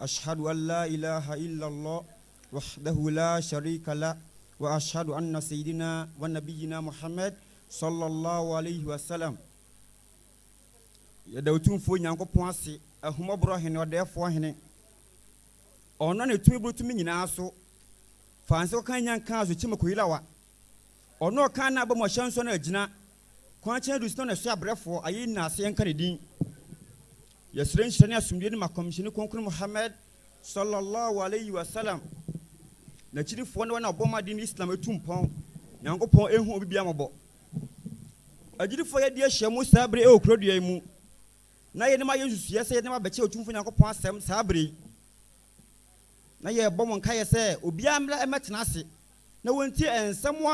Ashadu an laa ilaaha illallah wahdahu laa sharika lah wa ashadu anna sayyidinaa wa nabiyyinaa Muhammad sallallahu alaihi wa sallam. Yɛda Otumfoɔ Nyankopɔn ase, Ahummɔborɔ Hene, Ɔdɛɛfoɔ Hene. Ɔno na ne tumi boro tumi nyinaa so. Fa nsa kɔka nya nkaa so kyema koyirawa Ɔno a ɔkaa n'abam ɔhyɛ nsɔ no agyina, kwan kyɛn aduru so na ɔne ɛso abrɛfoɔ, ayeyi nna ase yɛnka ne din. Yɛsrɛ nhyira ne asomdwie no ma Kɔmhyɛni Kronkron Muhammad, Salla Llahu Alaihi Wasallam, n'akyidifoɔ ne wɔn a wɔbɔ ma deen Islam tu mpɔn, Nyankopɔn nhu obi biara mmɔbɔ. Agyidifoɔ yɛadi ahyia mu saa bere yi wɔ kuro dua yi mu, na yɛn anim ayɛ nsusuiɛ sɛ yɛdenam abɛkyɛ Otumfoɔ Nyankopɔn asɛm saa bere yi. na yɛrebɔ mo nkaeɛ sɛ obiara mmra mmɛtena ase na wɔntie nsɛm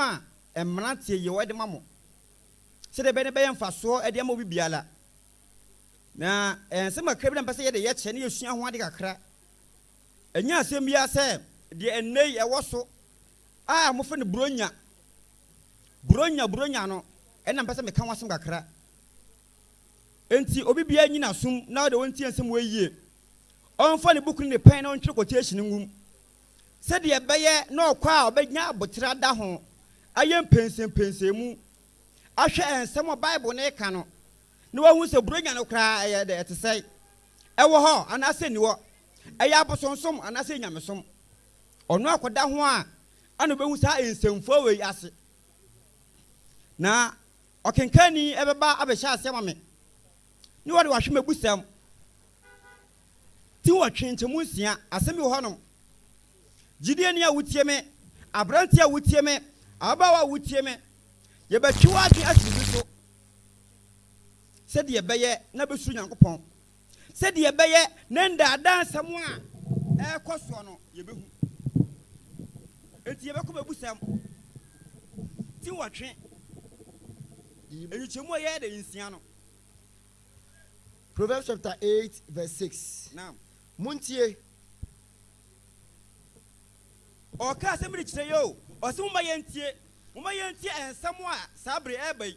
a mmeranteɛ yi de ma mo, sɛdeɛ ɛbɛyɛ na ɛbɛyɛ mfasoɔ de ama obi biara. Na ɛyɛ nsɛm kakra bi na mepɛ sɛ yɛde yɛ kyerɛ na yɛsua ho ade kakra. Ɛnyɛ asɛm biara sɛ deɛ ɛnnɛ yi ɛwɔ so a wɔfrɛ no Buronya, Buronya, Buronya no, ɛna mepɛ sɛ meka ho asɛm kakra. Ntsi obi biara nyi n'asom na ɔdɛ ɔntsie nsɛm wei yie. Ɔmfa ne buku ne ne pɛn na ɔntwerɛ quotation ngu mu. Sɛdeɛ ɛbɛyɛ na ɔkɔ a ɔbɛnya aboterɛ ada ho ayɛ mpɛnsɛmpɛnsɛmu ahwɛ nsɛm a Bible no reka no na wahu sɛ Buronya no koraa ɛyɛ dɛ, ɛte sɛn, ɛwɔ hɔ anaasɛ ɛnni hɔ, ɛyɛ abosonsom anaasɛ ɛyɛ nyamesom. Ɔno akɔda ho a ɛna ɔbɛhu saa nsɛmfua wei ase na Ɔkenkanni bɛba abɛhyɛ ase ama me, na ɔde wahwe m'abusɛm ti nwɔtwe nkyɛmu nsia. Asɛm bi wɔ hɔnom, gyidieni a wotie me, aberante a wotie me, ababaawa a wotie me, yɛbɛtwe w'adwene asi biribi so sɛdeɛ ɛbɛyɛ na bɛsuro Nyankopɔn. Sɛdeɛ ɛbɛyɛ na ndaadaa nsɛm a ɛrekɔ soɔ no yɛbɛhu. Enti yɛbɛkɔ bɛbusɛm ti nwɔtwe. Nkyekyɛmu a ɛyɛ dɛ nsia no. Proverbs chapter 8 verse 6. Naam. Montie. Ɔka asɛm bi de kyerɛ yɛ o. Ɔse momma yɛntie. Momma yɛntie nsɛm a saa bere ɛreba yi.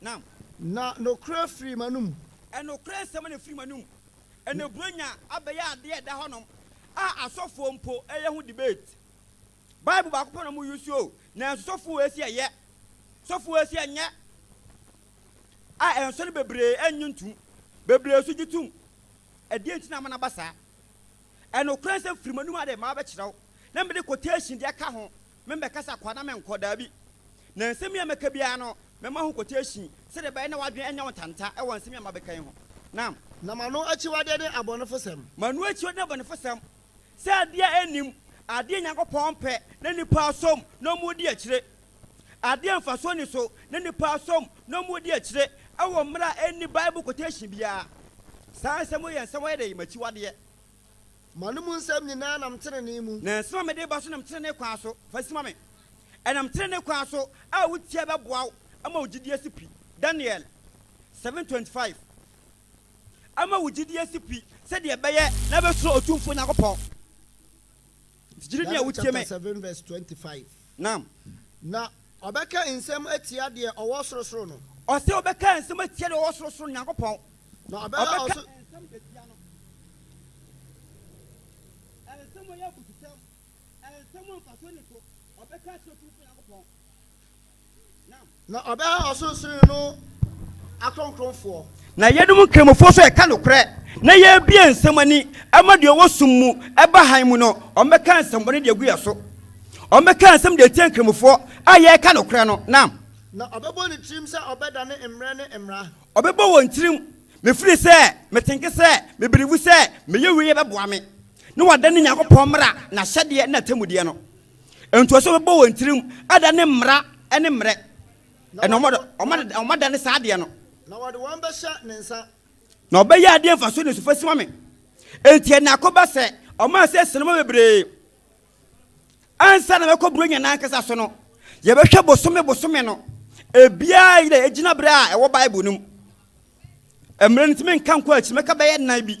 Nam. Na nokorɛ firii m'anom. Nokorɛ nsɛm na ɛfiri m'anom. Ɛnna Buronya abɛyɛ adeɛ a ɛda hɔnom a asɔfoɔ mpo yɛ ho debate. Bible baako pɛ na wɔn use o, nanso sɔfo wei se ɛyɛ, sɔfo wei se ɛnyɛ, a ɛnso no bebree ɛnnye ntum, bebree nso gye tum. Ɛdeɛn nti na ama no aba saa? Nokorɛ nsɛm firi m'anom a deɛ mabɛkyerɛ wo, na mede quotation de aka ho. Membɛkasa kwa na menkɔ, daabi. Na nsɛm yi a mɛka biara no, mɛma ho quotation, sɛdeɛ ɛbɛyɛ na w'adwene anya wo ntanta wɔ nsɛm yi a mabɛka yi ho. Na. Na m'ano akyiwadeɛ ne abɔnefosɛm. M'ano akyiwadeɛ ne abɔnefosɛm. Sɛ adeɛ a ɛnnim, adeɛ a Nyankopɔn mpɛ, na nnipa asom, na wɔredi akyire. Adeɛ a mfasoɔ nni so, na nnipa asom, na wɔredi akyire, wɔ mmerɛ a ɛnni Bible quotation biara. Saa nsɛm wei yɛ nsɛm a wɔyɛ dɛ? M'akyiwadeɛ. M'anom nsɛm nyinaa nam trenee mu. Na nsɛm a mede reba so nam trenee kwan so. Fa si ma me. Ɛnam trenee kwan so a wutie bɛboa wo ama wo gyidi asi pi. Daniel. Seven twenty five. Ama wo gyidi asi pi sɛdeɛ ɛbɛyɛ na wobɛsuro Otumfoɔ Nyankopɔn. Gyidi ni a wotie me. Na. Na ɔbɛka nsɛm atia deɛ ɔwɔ sorosoro no. Ɔse ɔbɛka nsɛm atia deɛ ɔwɔ sorosoro no, Nyankopɔn. Na ɔbɛka ɔso. Nsɛm atia no. Nsɛm a ɛyɛ abususɛm, nsɛm a mfasoɔ nni so, ɔbɛka akyerɛ Otumfoɔ Nyankopɔn. Na ɔbɛyɛ ɔsorosoroni no akronkronfoɔ. Na yeinom nkramofoɔ nso ɛka nokorɛ, na yɛbue nsɛm ani ma deɛ ɔwɔ sum mu, ɛba hann mu no, wɔbɛka nsɛmmɔne de agu yɛn so, wɔbɛka nsɛm de atia nkramofoɔ a yɛreka nokorɛ no. Nam. Na ɔbɛbɔ ne tirim sɛ ɔbɛdane mmerɛ ne mmara. Ɔbɛbɔ wɔn tirim, mefiri sɛ metenke sɛ mebelivu sɛ meyɛ wei a ɛbɛboa me, na wadane Nyankopɔn mmara, n'ahyɛdeɛ ne n'atemmudeɛ no. Ntoasoɔ bɛbɔ wɔn tirim ada ne mmara ne mmerɛ, na wɔn ada ne saa adeɛ no. Na wɔde wɔn bɛhyɛ ne nsa. Na wɔbɛyɛ adeɛ mfasoɔ ne sufa sima me. Enti ɛnna akɔba sɛ wɔmaa sɛ nsoromma bebree ansa na mɛkɔ Buronya no ankasa so no, yɛbɛhwɛ bosome bosome no, ebiara yɛ gyinaberɛ a ɛwɔ Bible no mu. Mmerɛ no nti menka nkɔ akyiri, mɛka bɛyɛ nnan bi.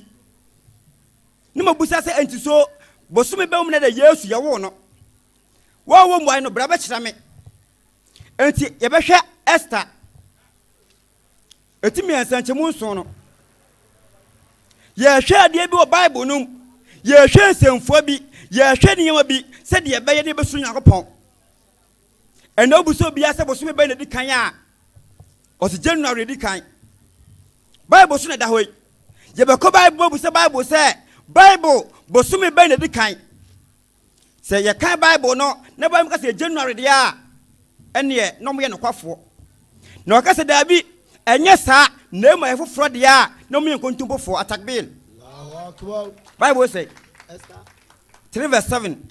Ne mabisa sɛ enti so bosome bɛn mu na da Yesu yɛwoo no? Wɔanwɔ mmuae no, bra bɛkyerɛ me. Enti yɛbɛhwɛ Ester ɛtumi nsɛnkyɛmu nson no. Yɛhwɛ adeɛ bi wɔ Bible no mu, yɛhwɛ nsɛmfua bi, yɛhwɛ nneɛma bi sɛdeɛ ɛbɛyɛ na yɛbɛsoro Nyankopɔn. Ɛnna wobisa obiara sɛ bosome bɛn na edi kan a, ɔse January na edi kan. Bible so na ɛda hɔ yi. Yɛbɛkɔ Bible mu abisa Bible sɛ Bible bosome bɛn na edi kan. Sɛ yɛkan Bible no na Bible ka sɛ January deɛ a, ɛneɛ na wɔyɛ nokwafoɔ. Na wɔka sɛ daabi, ɛnyɛ saa na ɛmu ayɛ foforɔ deɛ a, na wɔyɛ nkontompofoɔ. Atakbir. Bible sɛ 3 verse 7.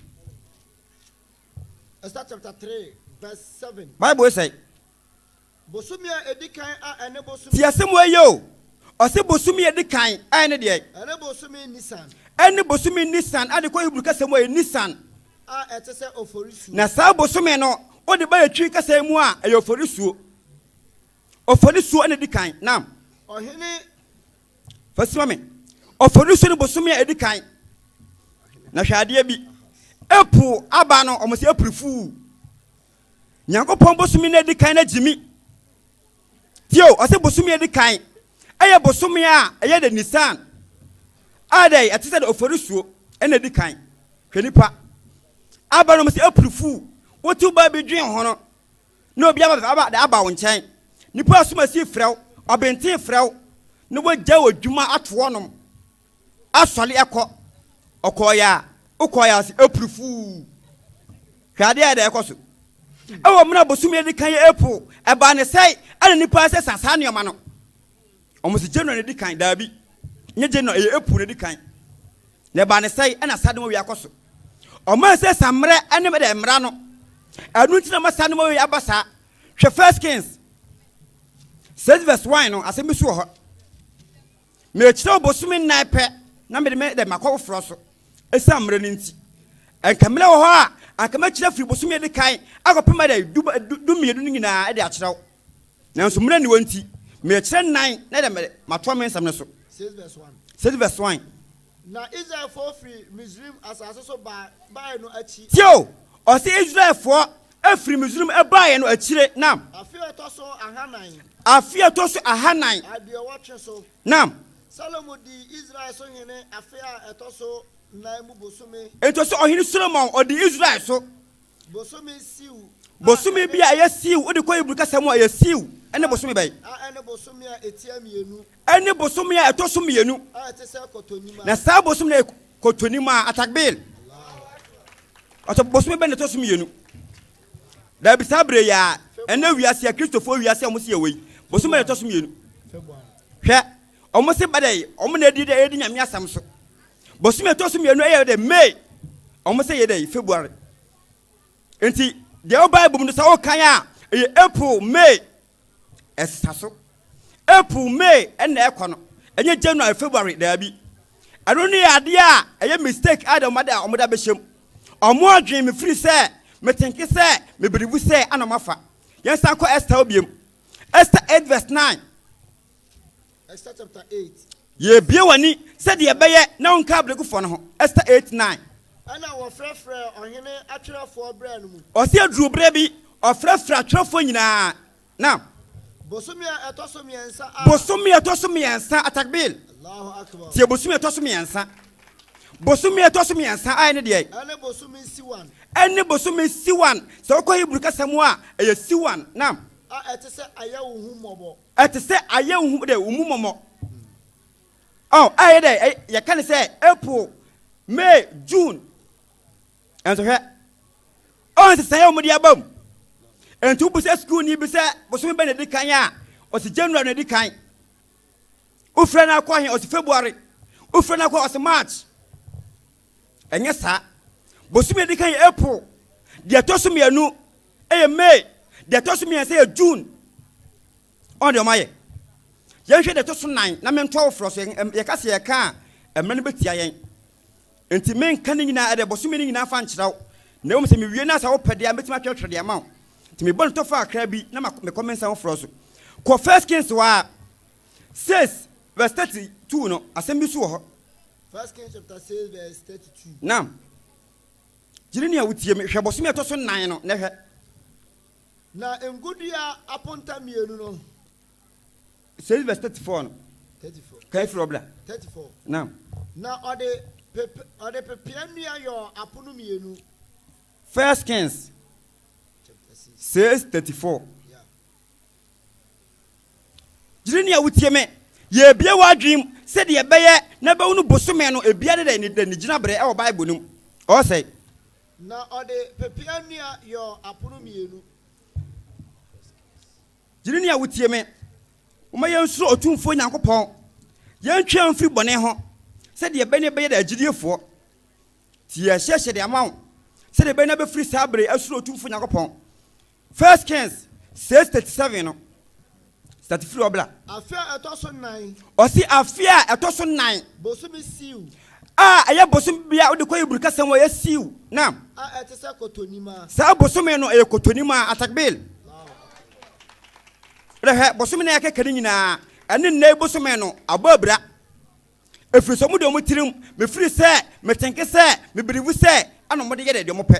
Esther chapter three verse seven. Bible sɛ. Bosome a edi kan a ɛne bosome. Ti asɛm wɔ yɛ o. Ɔsɛ bosome a edi kan a ɛne deɛ. Ɛne bosome Nisan. Ɛne bosome Nisan a de kɔ Hebrew kasa mu a ɛyɛ Nisan. A ɛte sɛ oforisuo. Na saa bosome no wode ba yɛ Twi kasa mu a ɛyɛ oforisuo. Oforisuo ɛna edi kan. Naam. Ɔhene fa si ma me ɔfɔrisu no bosome a ɛdi kan na hwɛ adeɛ bi ɛpo aba no ɔmo sɛ ɛpiri fuu nyankopɔn bosome no ɛdi kan no gyimi tio ɔsɛ bosome ɛdi kan ɛyɛ bosome a ɛyɛ de nisan a dɛ ɛte sɛ de ɔfɔrisuo ɛna ɛdi kan hwɛ nipa aba no ɔmo sɛ ɛpiri fuu wotu ba bi dwen ho no Na obi aba bɛfa aba de aba wo nkyɛn. Nnipa a asumasini frɛ wo, ɔbenten frɛ wo, na woagyae w'adwuma ato hɔnom asɔre akɔ. Ɔkɔeɛ a, wokɔeɛ ara sɛ April Fool. Hwɛ adeɛ a ɛda ɛkɔ so. Ɛwɔ mmerɛ a bosome a ɛdi kan yɛ April, ɛbaa ne sɛe, ɛna nnipa sesa saa nneɛma no. Wɔn se January na edi kan, daabi, ɛnyɛ January, ɛyɛ April na edi kan. Na ɛbaa ne sɛe, ɛna Sadmaway akɔ so. Wɔayɛ sɛ sammerɛ ne dɛ mmara no, ɛno nti na ama Sadmaway aba saa. Hwɛ First Kings six verse one no, asɛm bi so wɔ hɔ. Mekyerɛ wo bosome nnan pɛ na mede me dɛ makɔ foforɔ so, ɛsiane mmerɛ no nti. Ɛnka mmerɛ wɔ hɔ a, anka mɛkyerɛ firi bosome a ɛdi kan akɔpem dɛ du du du mmienu no nyinaa de akyerɛ wo. Nanso mmerɛ nni hɔ nti, merekyerɛ nnan na ɛde matoa me nsɛm no so. Six verse one. Six verse one. Na Israelfoɔ firi Misraim asase so baa baeɛ no akyi. Tie o, ɔse Israelfoɔ firi Misraim baeɛ no akyire, naam. Afe a ɛtɔ so ahanan. Afe a ɛtɔ so ahanan. Aduɔwɔtwe so. Naam. Salomo dii Israel so hene afe a ɛtɔ so nan mu bosome. Enti ɔse ɔhene Solomon ɔdii Israel so. bosome bi a ɛyɛ siiw wode kɔ hebrew kasa mu a ɛyɛ siiw ɛne bosome bɛn ɛne bosome a ɛtia mmienu ɛne bosome a ɛtɔ so mmienu na saa bosome no kɔtɔnim a atakbel ɔsɛ bosome bɛn na ɛtɔ so mmienu daabi saa berɛ yi a ɛnɛ wiase a kristofoɔ wiase a wɔsi ɛwɔ yi bosome na ɛtɔ so mmienu hwɛ wɔn se badɛ wɔn na ɛdi dɛ ɛdi nyame asɛm so bosome ɛtɔ so mmienu ɛyɛ dɛ may wɔn sɛ yɛ dɛ february nti deɛ wo bible mu no sɛ wokan a ɛyɛ april may ɛsesa so april may ɛna ɛkɔ no ɛnyɛ january february daabi ɛno ne yɛ adeɛ a ɛyɛ mistake a dɛ wɔn de a wɔn da bɛhyɛm wɔn adwene mefiri sɛ metenke sɛ mebiribu sɛ ana wɔafa yɛn san kɔ ɛsta obiam ɛsta eight verse nine Yebue w'ani sɛdeɛ ɛbɛyɛ na wonka abrɛgufoɔ no ho. Ester 8, 9. Ɛna wɔfrɛfrɛɛ ɔhene atwerɛfoɔ berɛ no mu. Ɔse aduru berɛ bi ɔfrɛfrɛ atwerɛfoɔ nyinaa. Naam. Bosome a ɛtɔ so mmiɛnsa a. Bosome a ɛtɔ so mmiɛnsa, atakbir. Tie bosome a ɛtɔ so mmiɛnsa. Bosome a ɛtɔ so mmiɛnsa a ɛne deɛ. Ɛne bosome siwan. Ɛne bosome siwan. Sɛ wokɔ Hebrew kasa mu a, ɛyɛ siwan. Naam. A ɛte sɛ ayɛ wo ho mmɔbɔ. Ɛte sɛ ayɛ wo hu dɛ wo mu mɔmɔ oh, ayɛ dɛ eh, yɛka ne sɛ April, May, June. Ɛnso hwɛ, ɔn nsesaeɛ a wɔde aba mu. Ɛnti wobisa sukuuni bi sɛ bosome bɛ na ɛdi kan a, ɔsi January na ɛdi kan. Wofrɛ no akɔ he, ɔsi February. Wofrɛ no akɔ ɔsi March. Ɛnyɛ saa. Bosome a ɛdi kan yɛ April, deɛ ɛtɔ so mmienu yɛ May, deɛ ɛtɔ so mmiɛnsa yɛ June. Ɔn deɛ ɔmayɛ. Yɛnhwɛ deɛ ɛtɔ so nan na mentoa wo forɔ so. Yɛka sɛ yɛka a, mmerɛ no bɛtia yɛn. Nti menka ne nyinaa ɛdɛ bosome no nyinaa fa nkyerɛ wo. Na mmom sɛ mewie no a sɛ wopɛ deɛ a mɛtumi atwerɛtwerɛ deɛ ama wo. Nti mebɔ no tɔfa akra bi na mekɔ mensa wo forɔ so. Kɔ First Kings hɔ ara. 6 vs 32 no asɛm bi so wɔ hɔ. First Kings chapter six verse thirty-two. Now, gyiri ni a wotie mi hwɛ bɔsɔmi ɛtɔ so nnan no na hwɛ. Na ngodua aponta mmienu no. Six verse thirty-four no. Thirty-four. Kan efiri ɔbla. Thirty-four. Now. Na ɔde pepe ɔde pepea nnua yɔ apono mmienu. First Kings. Chapter six. Six thirty-four. Yeah. Gyiri nea wutie me. Yebue w'adwene mu sɛnea ɛbɛyɛ na bɛwo no bosome no biara da ne da ne gyinabrɛ wɔ Bible no mu. Ɔɔ sɛe. Na ɔde pepeaa nnua yɔɔ apono mmienu. Gyiri nea wutie me. Momma yɛnsuro Otumfoɔ Nyankopɔn. Yɛntwɛn mfiri bɔne ho, sɛdeɛ ɛbɛyɛ na yɛbɛyɛ agyidiefoɔ. Tie ahyɛhyɛde ama wo, sɛdeɛ ɛbɛyɛ na bɛfiri saa berɛ yi asuro Otumfoɔ Nyankopɔn. First Kings six thirty seven no, start firi hɔ bra. Afe a ɛtɔ so nan. Ɔsi afe a ɛtɔ so nan. Bosome Siw. A ɛyɛ bosome bi a wode kɔ Hebri kasa mu a ɛyɛ Siw, naam. A ɛte sɛ Kotonima. Saa bosome no ɛyɛ Kotonima, Atakbil. Rehwɛ bosome na yɛkeka ne nyinaa ɛne nnɛ yi bosome no abɔ abira. Ɛfiri sɛ wɔde wɔn tirim mefiri sɛ metenke sɛ mebirivu sɛ ɛna wɔde yɛ deɛ wɔpɛ.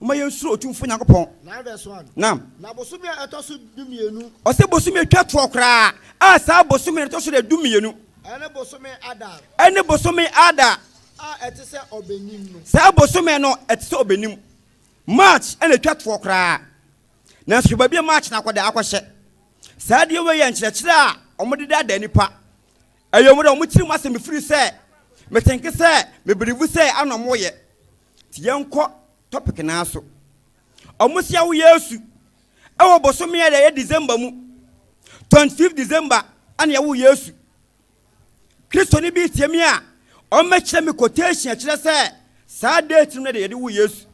Momma yɛnsuro Otumfoɔ Nyankopɔn. Nam. Ɔse bosome a ɛtwa toɔ koraa, a saa bosome no ɛtɔ so dɛ dumienu. Ɛne bosome Adar. Ɛne bosome Adar. A ɛte sɛ ɔbɛnim no. Saa bosome no ɛte sɛ ɔbɛnim. March ɛna ɛtwa toɔ koraa. Nanso hwɛ baabi a March no akɔda akɔhyɛ. Saa adeɛ wei yɛ nkyerɛkyerɛ a wɔde da da nipa. Ɛyɛ wɔn dɛ wɔn tirim asɛm firi sɛ metenke sɛ mebirivu sɛ ana wɔyɛ. Nti yɛnkɔ topic no ara so. Ɔmo se awo Yesu ɛwɔ bosome a ɛyɛ December mu. 25 December ɛna yɛwo Yesu. Kristoni bi retie me a, ɔmmɛkyerɛ me quotation a ɛkyerɛ sɛ saa date no na ɛde yɛde wo Yesu.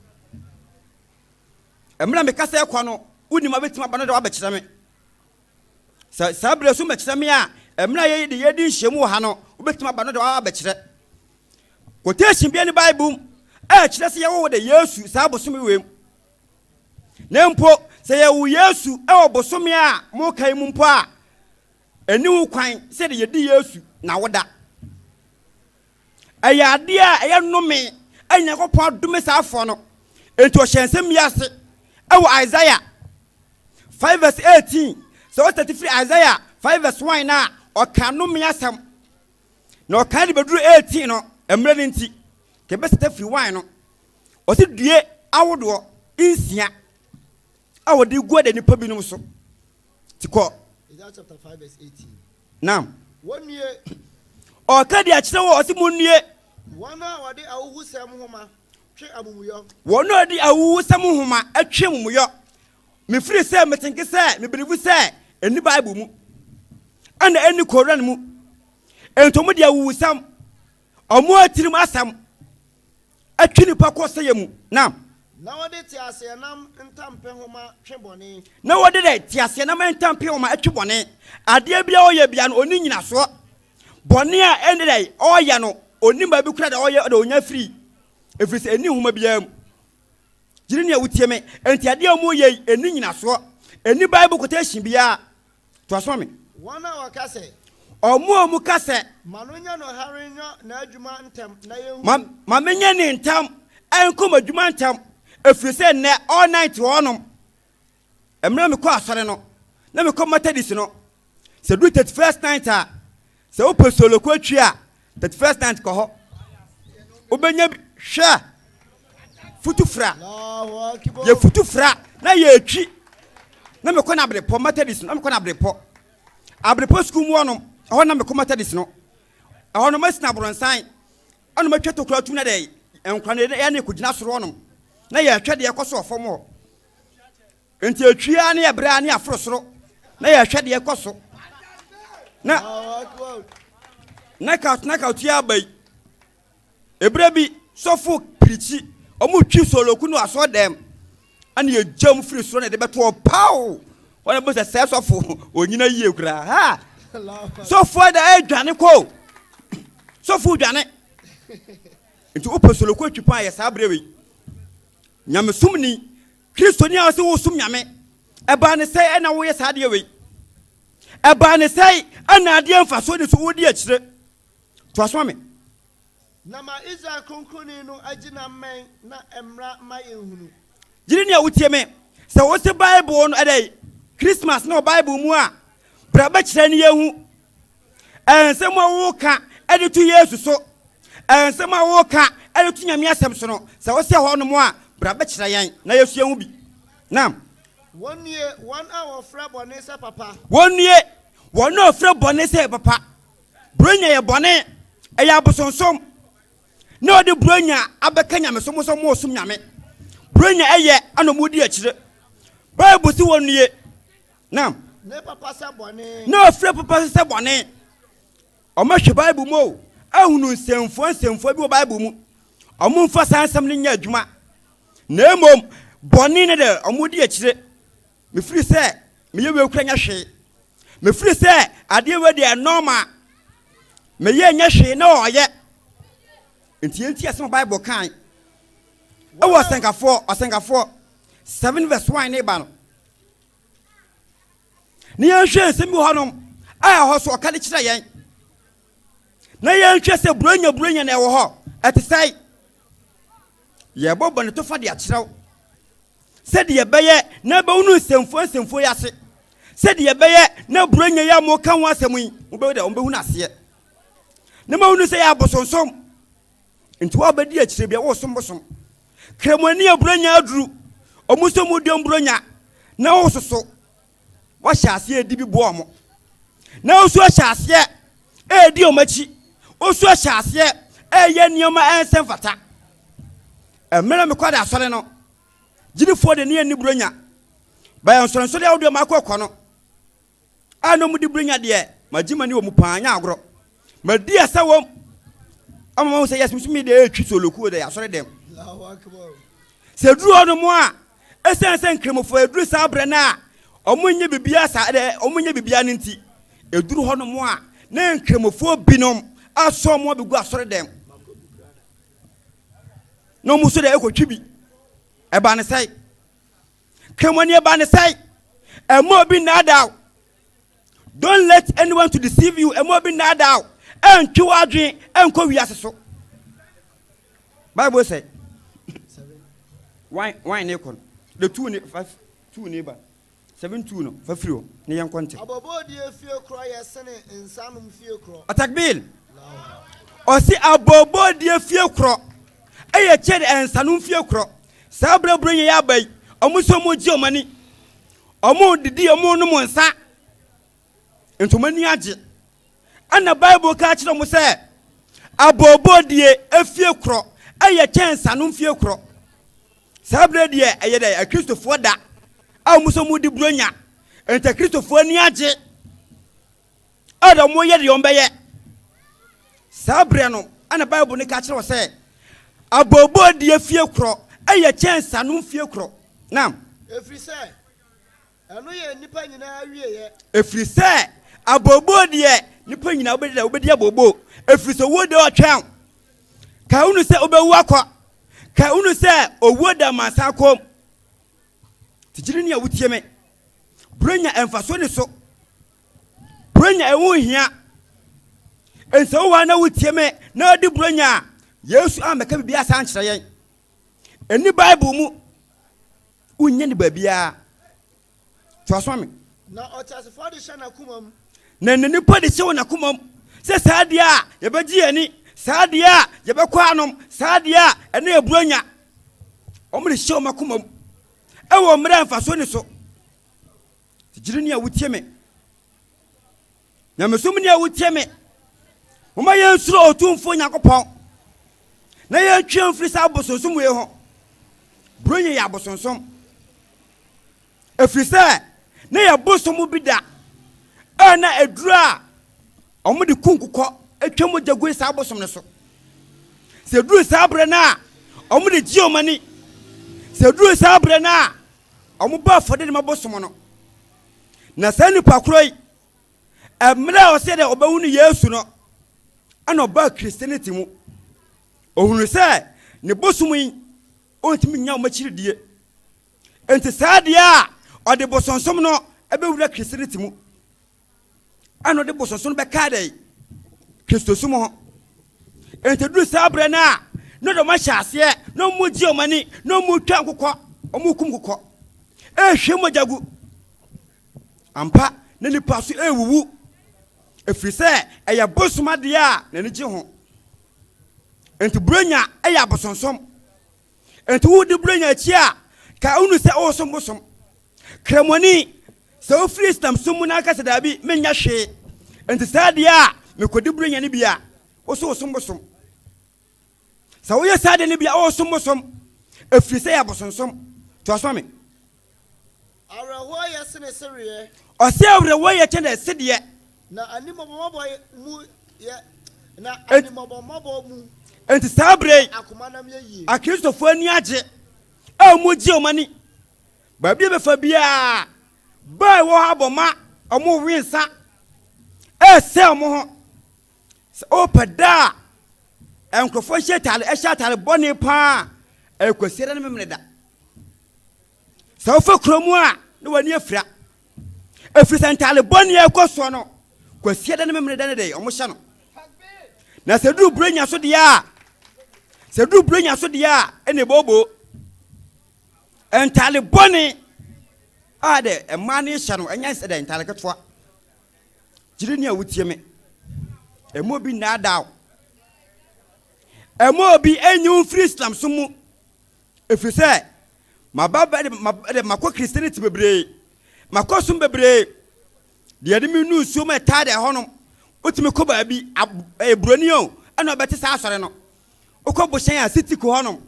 Mmerɛ a mekasa ɛkɔ no, wonim abɛtumi aba no de wabɛkyerɛ me. Sɛ saa berɛ so mmɛkyerɛ me a, mmerɛ a yɛde yɛdi nhyiamu wɔ ha no, wobɛtumi aba no de wabɛkyerɛ. Quotation bia ni Bible mu a ɛkyerɛ sɛ yɛwɔ wɔda Yesu saa bosome wei mu. Na mpo sɛ yɛwo Yesu wɔ bosome a moka yi mu mpo a, ɛni ho kwan sɛ de yɛdi Yesu na woda. Ɛyɛ adeɛ a ɛyɛ nnome a Nyankopɔn adome saa afoɔ no. Enti ɔhyɛ nsɛm yi ase ɛwɔ Isaiah 5 verse 18 sɛ ɔtete firi Isaiah 5 verse 1 no a ɔka nnome asɛm. na ɔkae de bɛduru eighteen no, mmerɛ no nti, ka ɛbɛsata firi wine no, ɔse due ahodoɔ nsia a wɔde gu ɔda nipa binom so, ti kɔ. Isaiah chapter five verse eighteen. Naam. Wɔn nue. Ɔka de akyerɛ wɔ ɔse mo nue. Wɔn a wɔde ahuhusɛm nhoma twe amumuyɔ. Wɔn a wɔde ahuhusɛm nhoma twe amumuyɔ. Mefiri sɛ me tenke sɛ me believe sɛ ɛnni bible mu ɛna ɛnni koran mu ɛnti ɔmo de awuwusɛm ɔmo atirim asɛm atwi nipa kɔ sɛyɛ mu na Na wɔde teaseɛnam ntampe homa twe bɔne. na wɔde dɛ teaseɛnam ntampe homa atwi bɔne adeɛ bia ɔyɛ bia no ɔnni nyinasoɔ bɔne a ɛnde dɛ ɔyɛ no ɔnnim baabi kora dɛ ɔyɛ ɔde ɔnya firi ɛfiri sɛ ɛnni homa biara mu Gyidi ne a wotie me nti adeɛ a wɔyɛ yi ɛni nyinasoɔ, ɛni Bible quotation biara. To aso ma me. Wɔn a wɔka sɛ. Wɔn a wɔka sɛ. Ma no nyɛ no hare nyɔ n'adwuma ntɛm na yɛnhu. Ma, ma menyɛ ne ntɛm nkɔ m'adwuma ntɛm, ɛfiri sɛ nnɛ all night wɔ hɔnom. Mmerɛ a me kɔ asɔre no na me kɔ Methodist no sɛ duru thirty first night a sɛ wo pɛ solo kɔ atwi a thirty first night kɔ hɔ wo bɛ nya bi hwɛ futu fra yɛ futu fra na yɛ atwi na me kɔ na abere pɔ Methodist na me kɔ na abere pɔ abere pɔ sukuu mu ɔnom ɛhɔ na me kɔ Methodist no ɛhɔ no ma sina boronsan ɛna ma twɛ tokura tum na dɛ nkura na yɛ ne kɔ gyina soro ɔnom na yɛ atwɛ deɛ kɔ so ɔfam hɔ. nti ɛtwia ne ɛberɛ ne aforo soro na yɛhwɛ deɛ ɛkɔ so na knockout knockout yi aba yi ɛberɛ bi sɔfo pirikyi ɔmo twi soloku no asɔ dɛm ɛne yɛgya mu firi soro na ɛde bɛtoɔ paw wɔn bɛ sɛ sɛ sɔfo onyina yie koraa ha sɔfo da ɛdwane kɔ sɔfo dwane nti wopɛ soloku atwi paa yɛ saa berɛ wei Nyamesom ni, Kristoni a ɔse wosom Nyame. Ɛbaa ne sɛe ɛna woyɛ saa adeɛ wei. Ɛbaa ne sɛe ɛna adeɛ mfasoɔ ni so wodi akyire. Toa so ma me. Na ma Israel Kronkroni no agye na mmɛn na ɛmmra mma yɛnhunu. Gyidi ni a wotie me. Sɛ wose Bible no ɛdɛn, Christmas no wɔ Bible mu a, bra bɛkyerɛ ne yɛnhu. Nsɛm a woka de to Yesu so, nsɛm a woka de to Nyame Asɛm so no, sɛ wosɛ hɔnom a, bra bɛkyerɛ yɛn na yɛasua ho bi. Na. Wɔnnue, wɔn a wɔfrɛ bɔne sɛ papa. Wɔnnue, wɔn a wɔfrɛ bɔne sɛ papa. Buronya yɛ bɔne, ɛyɛ abosonsom, na wɔde Buronya abɛka nyamesom ho sɛ wɔresom Nyame. Buronya yɛ, ɛna wɔdi akyire. Bible se wɔnnue. Naam. Ne papa sɛ bɔne. Na ɔfrɛ papa nso sɛ bɔne. Wɔahwɛ Bible mu o, ahunu nsɛmfua nsɛmfua bi wɔ Bible mu. Wɔmfa saa nsɛm no nyɛ adwuma. Na mmom, bɔne no de wɔdi akyire. Mefiri sɛ meyɛ wei kura nyɛ hwee. Mefiri sɛ adeɛ wei deɛ nɔɔma. Meyɛ nyɛ hwee na ɔyɛ. Nti yɛnti asɛm a Bible kan. Ɛwɔ ɔsɛnkafoɔ, ɔsɛnkafoɔ, 7 verse 1 ne ba no. na yɛnhwɛ nsɛm bi wɔ hɔnom a ɛhɔ so ɔka de kyerɛ yɛn na yɛnhwɛ sɛ buranya buranya na ɛwɔ hɔ ɛte sɛe yɛbɔ bɔne to fa de akyerɛw sɛdeɛ ɛbɛyɛ na ɛbɛwo no nsɛmfua nsɛmfua yi ase sɛdeɛ ɛbɛyɛ na buranya yi a moka ho asɛm yi mobɛhu dɛ wɔbɛhu no aseɛ na mahu no sɛ yɛ abosonsom Nti wa bɛ di akyire bia wo som bosom. Kramoni a bronya aduru ɔmo nso mu dɔm bronya na wo soso wa hyɛ aseɛ edi bi boɔ ɔmo. Na wo nso ahyɛ aseɛ edi ɔmo akyi. Wo nso ahyɛ aseɛ ɛyɛ nneɛma ɛnsɛ mfata. Ɛmɛrɛ me kɔda asɔre no gyinifoɔ de ne yɛ ni bronya. Bɛyɛ nsonsodeɛ ahodoɔ ma akɔ kɔ no. a na wɔde bere nya deɛ, magye m'ani wɔ mu paa, nyɛ agorɔ. Madi asɛ wɔ mu ama mahu sɛ yɛsomsom me deɛ ɛretwi solokuo deɛ asɔre dɛm. Sɛ ɛduru hɔ no mu a, ɛsiane sɛ nkramofoɔ ɛduru saa berɛ no a wɔn nyɛ biribiara saa deɛ wɔn nyɛ biribiara no nti, ɛduru hɔ no mu a na nkramofoɔ binom asɔ wɔn abɛgu asɔre dɛm na wɔn nso deɛ ɛkɔtwi bi. Ɛbaa ne sɛe. Twam ani ba ne sɛe. Mma obi nnaadaa wo. Don't let anyone to deceive you. Mma obi nnaadaa wo. Ɛntwe w'adwene nkɔ wiase so. Bible sɛ wine wine ne kɔ no de tuu ne fa tuu ne ba seven two no fa firi hɔ ne yɛn kɔ ntɛm. Abɔbɔdie fie korɔ yɛ sene nsanom fie korɔ. Atakbil ɔsi abɔbɔdie fie korɔ ɛyɛ kyɛn nsanom fie korɔ. Saa berɛ a Buronya yi aba yi, wɔn sɛ wɔn gye wɔn ani, wɔn didi, wɔn nom nsa, nti wɔn ani agye. Ɛna Bible ka kyerɛ wɔn sɛ, abooboo deɛ efie korɔ ɛyɛ kyɛn nsano mfie korɔ. Saa berɛ deɛ ɛyɛ dɛ akristofoɔ da a wɔn sɛ wɔn di Buronya, nti akristofoɔ ani agye. a na wɔyɛ deɛ wɔbɛyɛ. Saa berɛ no, ɛna Bible no ka kyerɛ wɔ sɛ, Abooboo deɛ fie korɔ yɛ kyɛn sanom fie korɔ. Nam. Ɛfiri sɛ, ɛno yɛ nnipa nyinaa awieɛ. Ɛfiri sɛ, abooboo deɛ, nnipa nyinaa wobɛdi dɛ, wobɛdi abooboo. Ɛfiri sɛ, owuo deɛ ɔtwɛn. Ka hunu sɛ wobɛwu akɔ. Ka hunu sɛ owuo da amansan kɔn mu. Nti gyene nea wotie me. Burenya mfaso ni so. Burenya ɛho nhia. Ɛnsɛ wo hɔ na wotie me na adi burenya a Yesu ammɛka biribi asa ankyerɛ yɛn. Ɛni Bible mu. Wonnya ni baabiara. Toa so ma me. Na ɔteasefoɔ de hyɛ n'akoma mu. Na ne nipa de hyɛ wɔn akoma mu sɛ saa adeɛ a yɛbɛgye yɛn ani, saa adeɛ a yɛbɛkɔ anom, saa adeɛ a ɛne yɛ burenya. Wɔn de hyɛ wɔn akoma mu. Ɛwɔ mmerɛ a mfasoɔ ni so. Gyidini a wotie me. Nyamesomni a wotie me. Moma yɛnsuro Otumfoɔ Nyankopɔn na yɛntwe mfiri saa abosonsom wei ho. Buronya yɛ abosonsom. Ɛfiri sɛ na yɛ bosom bi da a na ɛduru a Wɔde kunkokɔ twa mogya gui saa bosom no so. Sɛ ɛduru saa berɛ no a, wɔde gye wɔn ani. Sɛ ɛduru saa berɛ no a, wɔbɔ afɔdeɛ de ma bosom no. Na saa nipa korɔ yi, mmerɛ a ɔsɛ dɛ ɔbɛhunu Yesu no, ɛna ɔbaa Christianity mu. Ɔhunu sɛ ne bosom yi, ɔntumi nya wɔn akyiridie. Enti saa deɛ a ɔde bosonsom no bɛwura Christianity mu. ɛna ɔde bosonso no bɛkaa dɛ kristosom ho nti duru saa berɛ no a na dɔm ahyɛ aseɛ na ɔmo gye ɔmo ani na ɔmo twa nkokɔ ɔmo kum nkokɔ ɛhwɛ mogya gu ampa na nipa so ɛwuwu ɛfiri sɛ ɛyɛ bosom adeɛ a n'ani gye ho nti buronya ɛyɛ abosonsom Enti wo de buro nya akyi a, ka wonu sɛ woresom bosom. Kramoni, sɛ wofiri Islam som mu na woka sɛ daabi, menyɛ hwee, enti saa deɛ a mekɔdi buro nya no bi a, wo so wosom bosom. Sɛ woyɛ saa deɛ no bi a, woresom bosom, ɛfiri sɛ ɛyɛ abosonsom. Toa so ma me. Awerɛhoɔ yɛ sene sereɛ. Ɔse awerɛhoɔ yɛ kyɛne sedeɛ. Na animɔbɔmɔbɔ mu yɛ na animɔbɔmɔbɔ mu. Enti saa berɛ yi akristofoɔ ani agye a wɔregye wɔn ani baabi a bɛfa biara baa ɛwɔ hɔ abɔ ma wɔn rewe nsa ɛresɛe wɔn ho. Sɛ wopɛ da a nkurɔfoɔ hyɛ ataade ɛhyɛ ataade bɔne paa a, ɛyɛ Kwasiada ne Memeneda. Sɛ wofa kuro mu a na w'ani afira. Ɛfiri sɛ ntaade bɔne a ɛkɔ soɔ no, Kwasiada ne Memeneda ne deɛ wɔhyɛ no. Na sɛ duru Burenya so deɛ a, sɛ duru Burenya so deɛ a, ɛna ɛbooboo. Ntaade bɔne a dɛ mmaa no hyɛ no, ɛnyɛ sɛ dɛ ntaade ketewa. Gyidini a wotie me. Ɛmma obi nnaadaa wo. Ɛmma obi nnyi wo mfiri Islamsom mu. Ɛfiri sɛ, maba bɛ de ma de makɔ Christianity bebree. Makɔ som bebree. Deɛ de me nu nsuo mu ɛtaa deɛ ɛhɔnom. Wotumi kɔ baabi, ab, ɛyɛ buroni o, ɛna ɔbɛte saa asɔre no. Wokɔ bohyɛn a, city ko hɔnom.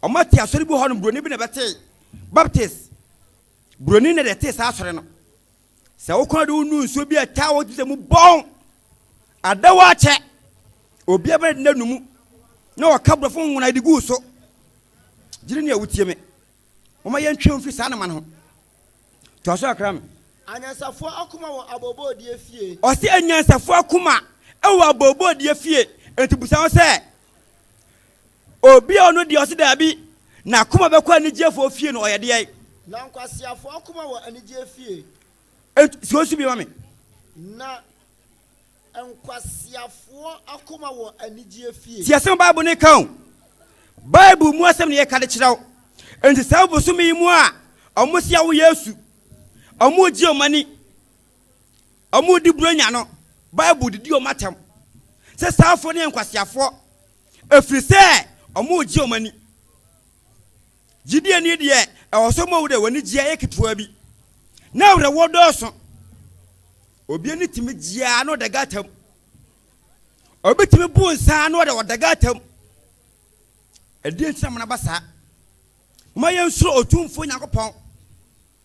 Ɔma te asɔre bi hɔnom, buroni bi na ɛbɛtee. Baptist. Buroni na deɛ ɛtee saa asɔre no. Sɛ wokɔ do nu nsu bi a taa wɔ gyedɛ mu bɔn adɛw akyɛ, obiara bɛyɛ dɛn anu mu na wɔaka borɔfo nwona de guu so? Gyiri nea wotie me. Momma yɛntwe ho mfi saa nneɛma no ho. Toa so kakra me. Anyansafoɔ akoma wɔ abooboodeɛ fie. Ɔse anyansafoɔ akoma wɔ abooboodeɛ fie. Enti busa ho sɛ, Obi a ɔno deɛ ɔse daabi, n'akoma bɛkɔ anigyeɛfoɔ fie no, ɔyɛ deɛn? Na nkwaseafoɔ akoma wɔ anigyeɛ fie. Ent, si osu bi ma me. Na nkwaseafoɔ akoma wɔ anigyeɛ fie. Ti asɛm a Bible no reka o. Bible mu asɛm na yɛreka de kyerɛ wo. Enti saa bosome yi mu a, wɔse awo Yesu, wɔregye wɔn ani. wɔde Buronya no Bible didi wɔn atɛm sɛ saafo no yɛ nkwaseafoɔ ɛfiri sɛ wɔregye wɔn ani. Gyidieni deɛ ɛwɔ sɛ ɔma wo dɛ w'anigyeɛ yɛ ketewa bi na awerɛhoɔ dɔɔso. Obi ani tumi gyeaa na ɔdaga atam. Obi tumi bu nsa na ɔde ɔdaga atam. Ɛdeɛ nti na mona ba saa. Moma yɛnsuro Otumfoɔ Nyankopɔn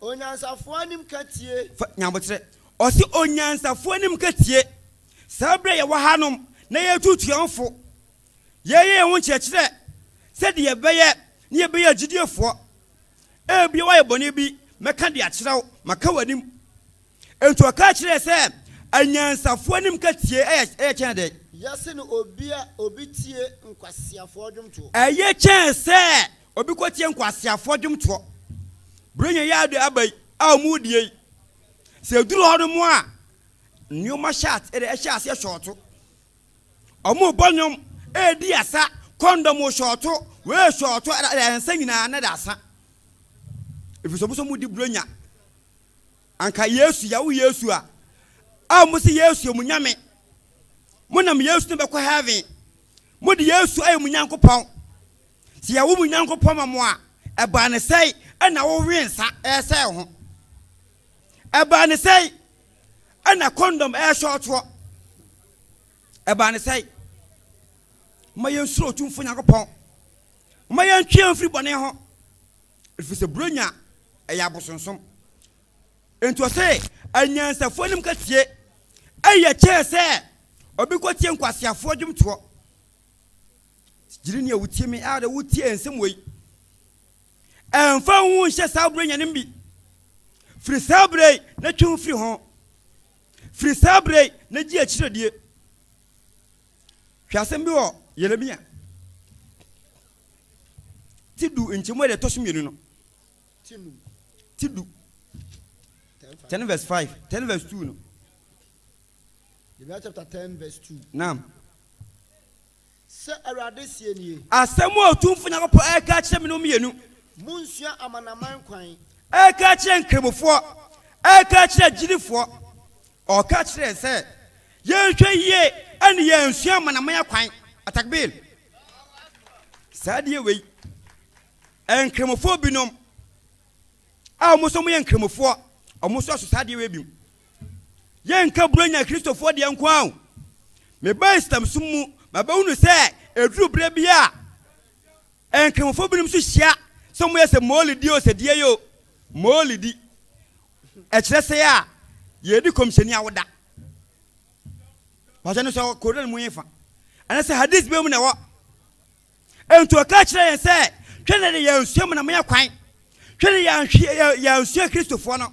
Onyansafoɔ anim ka tie. Fa nya aboterɛ. Ɔse onyansafoɔ anim ka tie. Saa berɛ a yɛwɔ hanom na yɛretuutu yɛn ho fo, yɛreyɛ yɛn ho nkyerɛkyerɛ sɛdeɛ yɛbɛyɛ na yɛbɛyɛ agyidiefoɔ. Ebia woayɛ bɔne bi, mɛka de akyerɛ wo, maka w'anim. Enti ɔkaa kyerɛɛ sɛ anyansafoɔ anim ka tie ɛyɛ kyɛn dɛn? Yɛse no obi a obi tie nkwaseafoɔ dwomtoɔ. Ɛyɛ kyɛn sɛ Obi kɔtie nkwaseafoɔ dwomtoɔ. Berɛ nyɛ yɛ ade aba yi a wɔredie yi, sɛ ɛduru hɔ nom a, nneɛma hyɛ ase ɛde ɛhyɛ aseɛ hyɔɔto. Wɔrebɔ nnwom, ɛredi asa, kɔndɔm wɔ hyɔɔto, wei hyɔɔto, ɛda ɛda nsa nyinaa na ɛda asa. Ɛfiri sɛ wɔn nso wɔdi berɛ nya. Anka Yesu, yɛawo Yesu a, a wɔn sɛ Yesu yɛ mo nyame. Monam Yesu na bɛkɔ heaven. Mode Yesu ayɛ mo Nyankopɔn. Sɛ yɛwo mo Nyankopɔn ma mo a, ɛbaa no sɛe na wowee nsa resɛe wo ho? Ɛbaa no sɛe na kɔndɔm rehyɛ wo toɔ? Ɛbaa no sɛe? Momma yɛnsuro Otumfoɔ Nyankopɔn. Momma yɛntwe yɛn ho mfiri bɔne ho, ɛfiri sɛ Buronya yɛ abosonsom. Enti ɔse, Anyansafoɔ anim kasie yɛ kyɛn sɛ obi kɔtie nkwaseafoɔ dwomtoɔ. Gyidini a wutie me a na wutie nsɛm wei. Ɛmfa wo ho nhyɛ saa bere nyanem bi. Firi saa bere yi na twe ho firi ho. Firi saa bere yi na gye akyirɛdie. Hwɛ asɛm bi wɔ Yeremia ti du nkyɛmu a deɛ ɛtɔ so mmienu no. Ti du. 10 verse 5, 10 verse 2 no. Yeremia chapter 10 verse 2. Naam. Sɛ Awurade seɛ nie. Asɛm a Otumfoɔ Nyankopɔn reka akyerɛ me no mmienu. Monnsua amanaman kwan. Ɛreka akyerɛ Nkramofoɔ, ɛreka akyerɛ agyidifoɔ. Ɔka kyerɛɛ sɛ yɛnhwɛ yie na yɛansua amanaman akwan. Atakbir! Saa adeɛ wei, Nkramofoɔ binom a wɔn nso wɔyɛ Nkramofoɔ, wɔn nso aso saa adeɛ wei bi mu. Yɛnka Buronya Kristofoɔ deɛ nko ara o. Mebaa Islamsom mu ma bɛhunu sɛ ɛduru berɛ bi a Nkramofoɔ binom nso hyia sɛ wɔyɛ sɛ Mawulidi o, sɛ deɛ yi o. Mawulidi, ɛkyerɛ sɛ a yɛredi Kɔmhyɛni awoda. Wɔahyɛ no sɛ wɔ Koran mu efa. Ɛne sɛ Hadith bɛn mu na ɛwɔ. Nti ɔka kyerɛ yɛn sɛ hwɛ na deɛ yɛansua Amanaman Akwan, hwɛ deɛ yɛanhwɛ yɛansua Kristofoɔ no.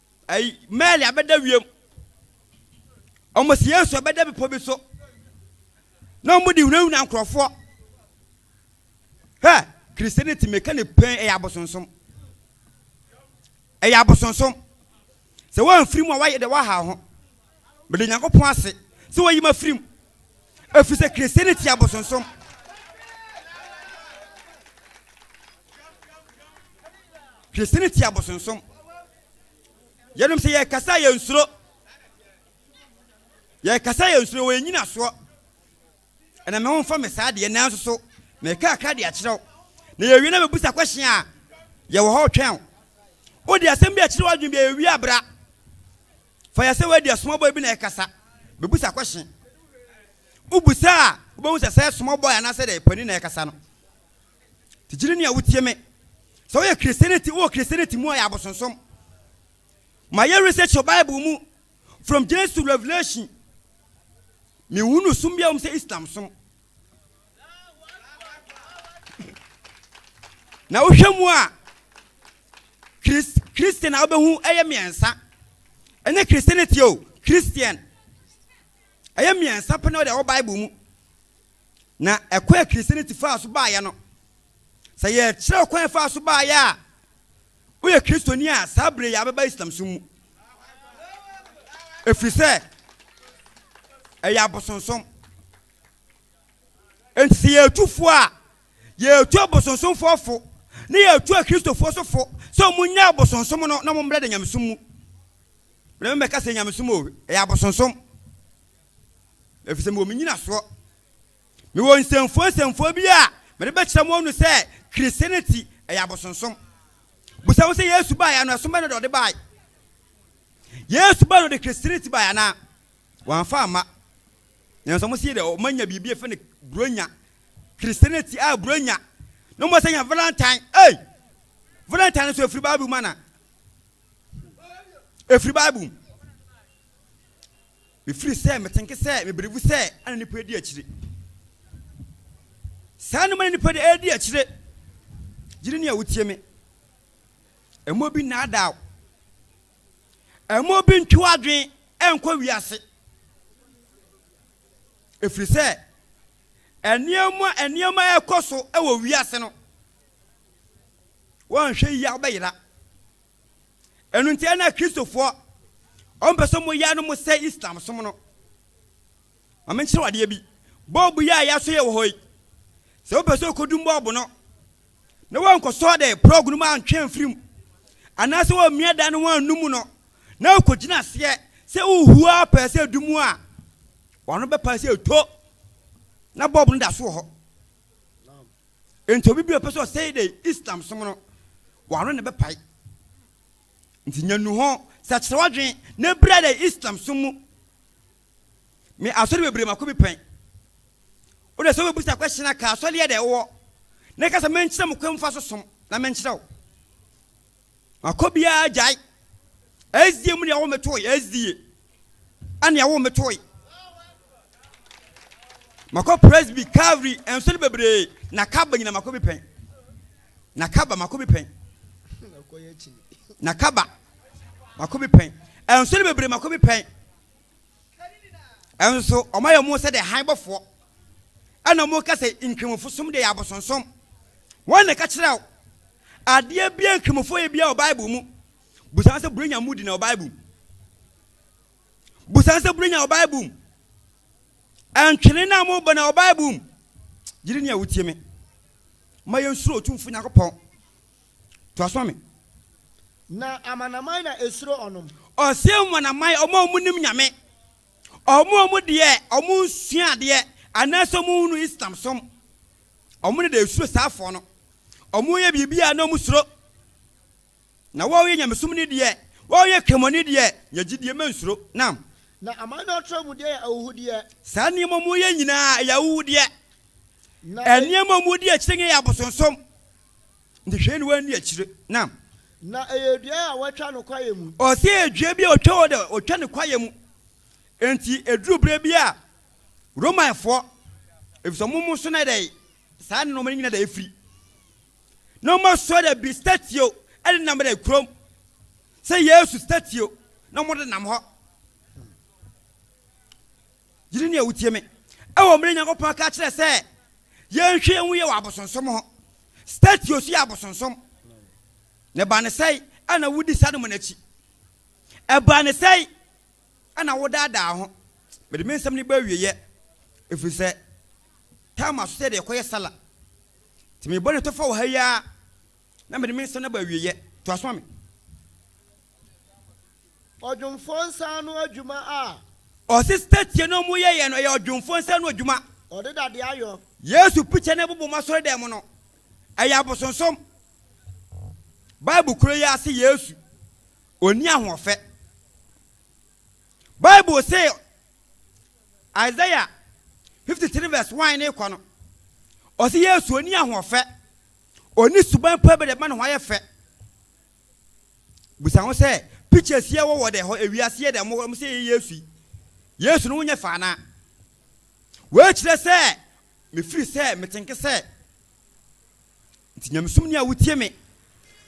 Ɛyi, Mary abɛda wiem. Wɔn si Yesu abɛda bepɔ bi so. Na wɔn de hunahuna nkorɔfoɔ. Hɛ, Christianity meka ne pɛn ɛyɛ abosonsom. Ɛyɛ abosonsom. Sɛ wɔn mfiri mu a wɔayɛ dɛ wɔaha ho. Meda Onyankopɔn ase sɛ wayi me afiri mu, ɛfiri sɛ Kristiani te abosonsom. Kristiani te abosonsom. Yɛnom sɛ yɛkasa yɛ nsuro. Yɛkasa yɛ nsuro, wɔyɛ nyinasoɔ. Ɛna me ho mfa me saa deɛ nanso so meka akra de akyerɛw. Na yɛwie na mebusa question a yɛwɔ hɔ twɛn. Wode asɛm bi akyerɛ w'adwene bi a yɛwie abra. Fa yɛ sɛ woadi small boy bi na ɛkasa, bebisa kwɛhyen. Wobisa a, wobɛhu sɛ sɛ small boy anaasɛ dɛ panin na ɛkasa no. Tigyiri ni a wotie me. Sɛ woyɛ Christianity, wowɔ Christianity mu a yɛ abosonsom. Ma yɛ research wɔ Bible mu, from Genesis to Revelation. Menhunu som biara wɔ mu sɛ Islam som. Na wohwɛ mu a, Christian a wobɛhu ɛyɛ mmiɛnsa. Ɛnyɛ Christianity o, Christian. Ɛyɛ mmiɛnsa pɛ na wɔde ɛwɔ Bible mu. Na ɛkwan a Christianity faa so baeɛ no, sɛ yɛkyerɛ ɔkwan a faa so baeɛ a, woyɛ Kristoni a saa berɛ yi abɛba Islam som mu. Ɛfiri sɛ, ɛyɛ abosonsom. Enti sɛ yɛretu fo a, yɛretu abosonsomfoɔ fo, na yɛretu Akristofoɔ nso fo sɛ wɔnnyae abosonsom no na wɔmmra da nyamesom mu. Berɛ me mɛka sɛ nyamesom o, ɛyɛ abosonsom. Ɛfiri sɛ mewɔ me nyinasoɔ. Mewɔ nsɛmfua nsɛmfua bi a mede bɛkyerɛ mo ɔno sɛ Christianity ɛyɛ abosonsom. Bisa ho sɛ Yesu baeɛ no ɛsom bɛn na ɔde baeɛ? Yesu baeɛ na ɔde Christianity baeɛ anaa? Wɔamfa amma. Nanso wɔsii dɛ wɔanya biribi a yɛfrɛ no Buronya. Christianity a Buronya na wɔsɛ nya Valentine. Ei! Valentine nso ɛfiri Bible mu ana? Ɛfiri Bible mu. Mefiri sɛ metenke sɛ mebelivu sɛ ɛna nipa adi akyire. Saa nneɛma na nipa de ɛredi akyire. Gyiri nea wotie me. Ɛmɔ bi nnaadaa wo. Mma obi ntwe w'adwene nkɔ wiase, ɛfiri sɛ nneɛma nneɛma a ɛkɔ so wɔ wiase no, wɔnhwɛ yie a wobɛyera. Ɛno nti na Kristofoɔ wɔmpɛ sɛ wɔyɛ no mo sɛ Islam som no. Ma menkyerɛ wo adeɛ bi. Bɔɔbo yi a yɛasɔ yɛ wɔ hɔ yi, sɛ wopɛ sɛ wokɔdum bɔɔbo no, na woankɔsɔ dɛ prɔg no mu antwe amfiri mu, anaasɛ woammia dan no ho annu mu no, na wokɔgyina aseɛ sɛ worehu ara pɛɛ sɛ ɛdu mu a, w'ano bɛpae sɛ ɛtɔ, na bɔɔbo no da so wɔ hɔ. Enti obi bi a ɔpɛ sɛ ɔsɛe dɛ Islam som no, w'ano na ɛbɛpae. Nti nya nnuho, sakyera w'adwene, na bira dɛ Islam som mu. Me asɔre bebree mako bi pɛn. Wo de sɛ wobɛbusa question a ka asɔre yɛ dɛ wowɔ na ɛka sɛ menkyerɛ mo kwan mfa so som na menkyerɛ wo. Makɔ biara gyae. SDA mu deɛ wo metoe SDA ɛnea wo metoe. Makɔ Presby, Calvary, nsɔre bebree na kaba nyina mako bi pɛn. Na kaba mako bi pɛn. Na kaba mako bi pɛn. Nsɔre bebree mako bi pɛn. Nso wɔayɛ wɔn sɛ dɛ hann bɔfoɔ, ɛna wɔka sɛ nkramofo som deɛ yɛ abosonsom. Wɔn na ɛka kyerɛ wo adeɛ biara nkramofo yɛ biara wɔ Bible mu. Busa sɛ burenya mu di na wɔ Bible mu. Busa sɛ burenya wɔ Bible mu. Ɛntwene na mo bɔ na wɔ Bible mu. Gyiri ni a wotie me. Ma yɛn suro otumfo Nyankopɔn. Toa so ma me. Na amanaman na esuro ɔnom. Ɔseɛ amanaman, wɔn a wɔnnim Nyame, wɔn a wɔn deɛ wɔn nsua adeɛ, anaasɛ wɔn nhunu Islam som, wɔn na da esuro saa afoɔ no. Wɔn yɛ biribi a na wɔn suro. Na wɔn yɛ Nyamesom ni deɛ, wɔn yɛ Kremoni deɛ, nya gyidie, ma nsuro. Naam. Na aman no atorɔ mu deɛ yɛ ahuhudeɛ. Saa nneɛma a wɔyɛ nyinaa, ɛyɛ ahuhudeɛ. Na. Nneɛma a wɔdi akyire nyɛ yɛ abosonsom. Nti hwɛ aniwa ndi akyire na. Na ɛyɛ dua a wɔatwa no kwaeɛ mu. Ɔse ɛyɛ dua bi a ɔtwa hɔ dɛ ɔtwa no kwaeɛ mu nti ɛduru berɛ bi a Romanfoɔ ɛfiri sɛ ɔmo so na ɛdɛ saa nnoɔma no nyina dɛ ɛfiri na ɔmo asoa dɛ bi statio ɛde nam dɛ kurom sɛ Yesu statio na ɔmo de nam hɔ. Gyidi ne a wotie me wɔ mmerɛ Nyankopɔn ka kyerɛ sɛ yɛnhwɛ nhu yɛ wɔ abosonsom ho. Statio so yɛ abosonsom. Ne ba ne sɛe ɛna wodi sa no mu no akyi. Ɛbaa ne sɛe ɛna wodaadaa ho. Mede me nsɛm no ba awieɛ ɛfiri sɛ time aso sɛ yɛde ɛkɔyɛ sala. Nti mebɔ ne tɔfa wɔ ha yi ara na mede me nsɛm no ba awieɛ. Toa so ma me. Ɔdwomfoɔ nsa ano adwuma a. Ɔse sɛtie na ɔmo yɛyɛ no ɛyɛ ɔdwomfoɔ nsa ano adwuma. Ɔde dadeɛ ayɔ. Yesu pikya na ɛbobɔ ɔmo asɔredɛm mu no ɛyɛ abosonsom. Bible koro yi ara se Yesu ɔnni ahoɔfɛ. Bible se Isaiah 53 vs 1 ne rekɔ no ɔse Yesu ɔnni ahoɔfɛ, ɔnni suban mpo a ɛbɛde bɛma ne ho ayɛ fɛ. Bisa ho sɛ, Pictures yi a wɔwɔ dɛ hɔ, ewiase yɛ dɛ, wɔwɔ hɔ, wɔsɛ yɛyɛ Yesu yi, Yesu no ho nyɛ fɛ anaa? Wei kyerɛ sɛ mefiri sɛ metenke sɛ nti nyamesom ni a wotie me,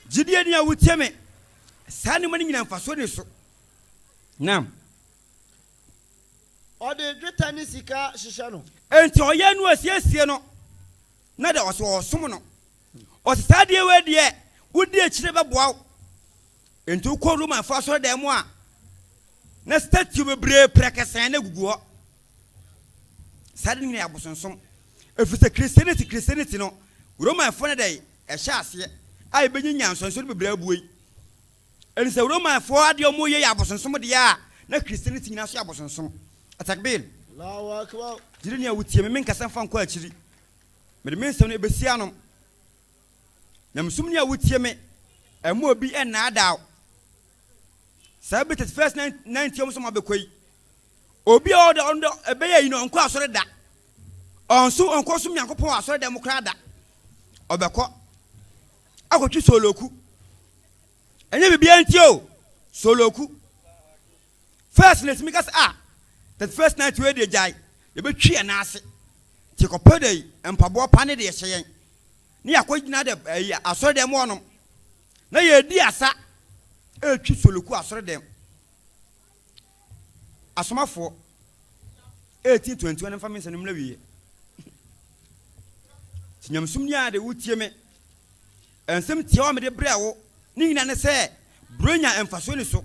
gyidie ni a wotie me, saa nneɛma no nyinaa mfasoɔ ni so. Nam. Ɔde dwetɛ ne sika hyehyɛ no. Enti ɔyɛ no asiesie no, na dɛ ɔsɛ ɔsom no, Ɔse saa adeɛ wei deɛ wodi akyire bɛboa wo. Enti wokɔ Romanfoɔ asɔredan mu a na statue bebree prɛkɛsɛn na egugu hɔ. Saa ade no nyinaa yɛ abosonsom. Ɛfiri sɛ Christianity Christianity no Romanfoɔ na dɛn ɛhyɛ aseɛ a yɛbɛnya nyansɔnsɔre bebree abue yi. Ɛne sɛ Romanfoɔ adeɛ a wɔyɛ yɛ abosonsom deɛ a na Christianity nyinaa nso yɛ abosonsom. Atakbir! Gyidini a wotie me, menkasa mfa nkɔ akyiri. Mede me nsɛm no ebehyia no. Nyamesom ni a wutie me, ɛmma obi nnaadaa wo. Saa bere tete fɛs na na ntia wɔn sɛ wɔabɛkɔ yi. Obi a ɔda ɔno ɛbɛyɛ yi no ɔnkɔ asɔre da. Ɔnso ɔnkɔ som Nyankopɔn wɔ asɔre dɛm koraa da. Ɔbɛkɔ akɔtwe sooloku. Ɛnyɛ biribiara nti o, sooloku. First na etumi ka sɛ, ah, that first night wei deɛ gyae, yɛbɛtwi yɛn nan ase. Nti kɔpɛ dɛ yi, mpaboa pa ne deɛ hyɛ yɛn. Ne yɛakɔgyina dɛ ɛyi asɔredɛm mu hɔnom. Na yɛredi asa retwi Soloku asɔredɛm. Asomafoɔ 1821 mfa me nsɛm no mmra wieɛ. Nti nyamesom ni a de wotie me. Nsɛm tiawa a mede brɛ wo ne nyinaa ne sɛ, Burenya mfasoɔ ni so.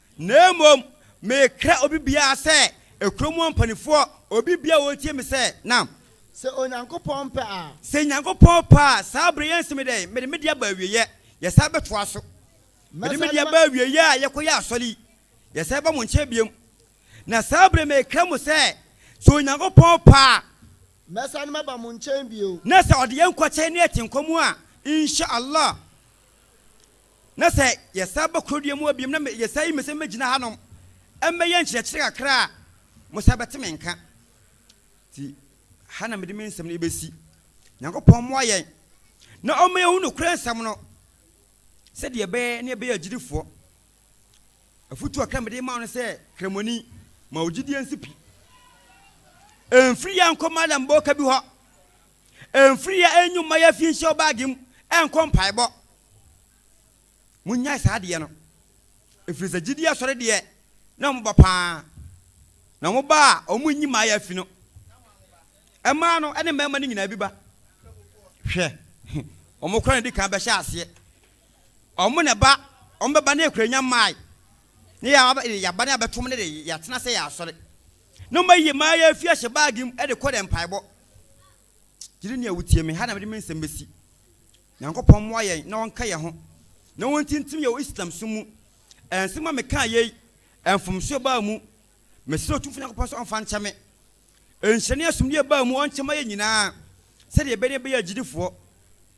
Na mmom mekra obi biara sɛ kuro mu ɔmpanifoɔ, obi biara a ɔtie me sɛ, na. Sɛ Onyankopɔn pɛ a. Sɛ Nyankopɔn pɛ a, saa berɛ yi nso me dɛn? Mede me deɛ aba awieɛ, yɛsan bɛtoa so. Mede me deɛ aba awieɛ a yɛkɔyɛ asɔre yi, yɛsan ba mo nkyɛn biom. Na saa berɛ yi mekra mo sɛ, sɛ Onyankopɔn pɛ a. Mɛsane maba mo nkyɛn bio. Na sɛ Ɔde yɛn nkɔ kyɛn ne atenkwa mu a, Insha Allah. Na sɛ yɛsan ba kurodua mu hɔ biom na yɛsan yi me sɛ mɛgyina hanom mmɛyɛ nkyerɛkyerɛ kakra a, mosan bɛte me nka. Nti ha na mede me nsɛm no bɛsi. Nyankopɔn mmoa yɛn na ɔmma yɛhu nokorɛ nsɛm no sɛdeɛ ɛbɛyɛ na yɛbɛyɛ agyidifoɔ. Afotuo kakra a mede rema wo no sɛ, Kramoni, ma wo gyidie nsi pi. Ɛmfiri yɛ nkɔ Malam Boka bi hɔ. Mfiri a ɛnwu mma yɛmfi nhyɛ wo baage mu nkɔ mpaebɔ. Monnyae saa adeɛ no, ɛfiri sɛ gyidie asɔre deɛ na wɔn ba paa, na wɔn ba a wɔn nyi mmaa yɛ afi no, mmaa no ne mmarima no nyinaa bi ba. Hwɛ, wɔn kora na ɛdi kan bɛhyɛ aseɛ. Wɔn na ɛba, wɔn bɛba na ɛkura nya mmae, na yɛaba na yɛabɛto wɔn de yɛatena sɛ yɛ asɔre. Na wɔayi mmaa yɛ afi ahyɛ baage mu de kɔ dɛ mpaebɔ. Gyidini a wutie me, ha na mede me nsɛm besi. Nyankopɔn mmoa yɛn na ɔnka yɛn ho, na ontintim yɛn wɔ Islamsom mu. Ɛnsɛ ma meka yei, mfomsoɔ baa mu. Mesrɛ Otumfoɔ Nyankopɔn sɛ ɔmfa nkyɛ me. Nhyira ne asomdwoeɛ baa mu, ɔnkyɛ ma yɛn nyinaa, sɛdeɛ yɛbɛyɛ na yɛbɛyɛ agyidifoɔ.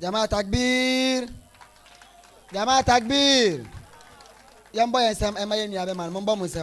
Jama'a takbir Jama'a takbir yɛmbɔ yɛn nsɛm ɛma yɛn nua bɛma no mombɔ mo nsɛm